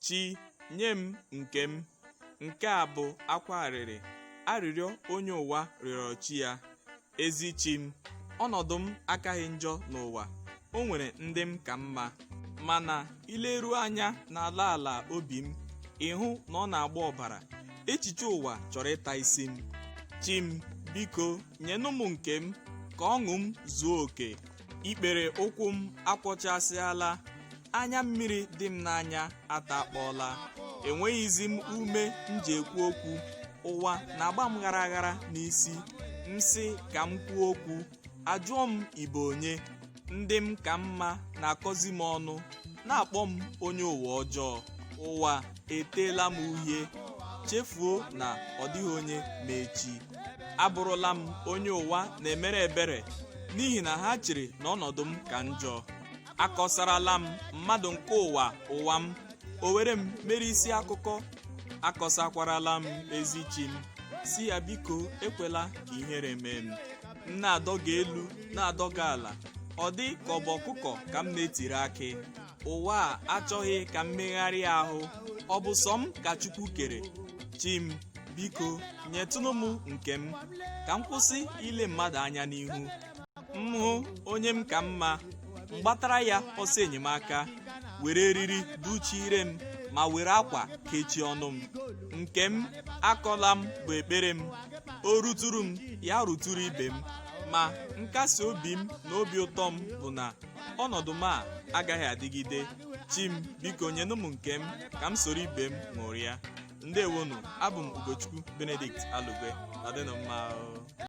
chi nye m nke m nke a bụ akwa arịrị arịrịọ onye ụwa rịọrọ chi ya ezi chi m ọnọdụ m akaghị njọ n'ụwa o nwere ndị m ka mma mana i leruo anya n'ala ala obi m ị hụ na ọ na-agba ọbara echiche ụwa chọrọ ịta isi m chi m biko nyenụ m nke m ka ọṅụ m zuo oke ikpere ụkwụ m akwọchasịala anya mmiri dị m n'anya atakpọọla enweghịzi m ume m ji ekwu okwu ụwa na-agba m gharaghara n'isi m sị ka m kwuo okwu a jụọ m ị bụ onye ndị m ka mma na-akọzi m ọnụ na-akpọ m onye ụwa ọjọọ ụwa eteela m uhie chefuo na ọ dịghị onye ma echi abụrụla m onye ụwa na-emere ebere n'ihi na ha chere na ọnọdụ m ka njọ akọsarala m mmadụ nke ụwa ụwa m o were m mere isi akụkọ akọsakwarala m ezi chi m sị ya biko ekwela ka ihere mee m m na-adọga elu na-adọga ala ọ dị ka ọ bụ ọkụkọ ka m na-etiri akị ụwa a achọghị ka m megharịa ahụ ọ bụ sọ m ka chukwu kere chi m biko nyetụnụ m nke m ka m kwụsị ile mmadụ anya n'ihu m hụ onye m ka mma m gbatara ya ọsọ enyemaka were eriri dụchie ire m ma were akwa kechie ọnụ m nke m akọla m bụ ekpere m o ruturu m ya ruturu ibe m ma nkasi obi m na obi ụtọ m bụ na ọnọdụ m a agaghị adịgide chi m biko nyenụ m nke m ka m soro ibe m ṅụrịa ndewonụ abụ m ugochukwu benedict alugwe nọdịnụ mma o.